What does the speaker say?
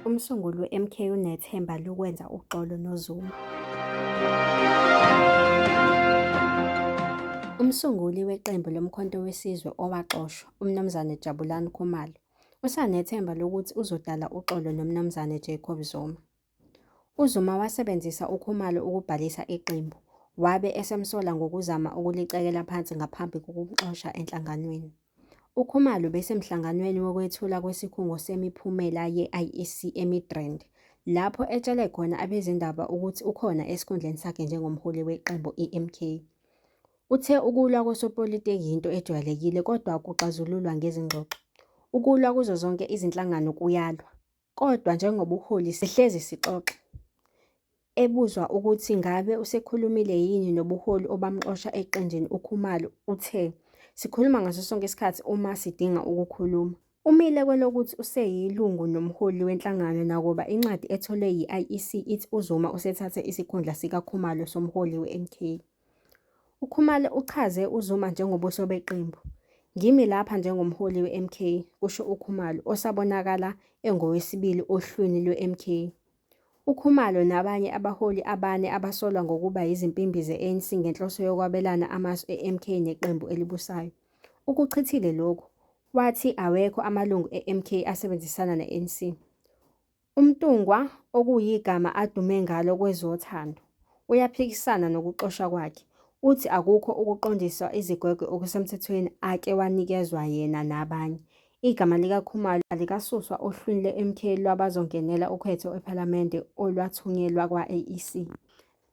Umsunguli we-MK unethemba lokwenza uxolo noZuma. Umsunguli weqembu loMkhonto weSizwe owaxoshwa, uMnumzane Jabulani Khumalo, usanethemba lokuthi uzodala uxolo noMnumzane Jacob Zuma. UZuma wasebenzisa uKhumalo ukubhalisa iqembu, wabe esemsola ngokuzama ukulicekela phansi ngaphambi kokumxosha enhlanganweni. UKhumalo besemhlanganweni wokwethula kwesikhungo semiphumela ye-IEC eMidrand, lapho etshele khona abezindaba ukuthi ukhona esikhundleni sakhe njengomholi weqembu iMK. Uthe ukulwa kosopolitiki yinto ejwayelekile kodwa kuxazululwa ngezingxoxo. Ukulwa kuzo zonke izinhlangano kuyalwa. Kodwa njengobuholi sihlezi sixoxa. Ebuzwa ukuthi ngabe usekhulumile yini nobuholi obamxosha eqenjini uKhumalo uthe, Sikhuluma ngaso sonke isikhathi uma sidinga ukukhuluma. Umile kwelokuthi useyilungu nomholi wenhlangano nakuba incwadi etholwe yi-IEC ithi uZuma usethathe isikhundla sikaKhumalo somholi we-MK. UKhumalo uchaze uZuma njengobuso beqembu. Ngimi lapha njengomholi we-MK, kusho uKhumalo, osabonakala engowesibili ohlwini lwe-MK. UKhumalo nabanye abaholi abane abasolwa ngokuba yizimpimbi ze-ANC ngenhloso yokwabelana amasu e-MK neqembu elibusayo. Ukuchithile lokhu, wathi awekho amalungu e-MK asebenzisana ne-ANC. UMntungwa, okuyigama adume ngalo kwezothando, uyaphikisana nokuxoshwa kwakhe, uthi akukho ukuqondiswa izigwegwe okusemthethweni ake wanikezwa yena nabanye. Igama likaKhumalo alikasuswa ohlwini lweMK lwabazongenela ukhetho ePhalamende olwathunyelwa kwa-IEC.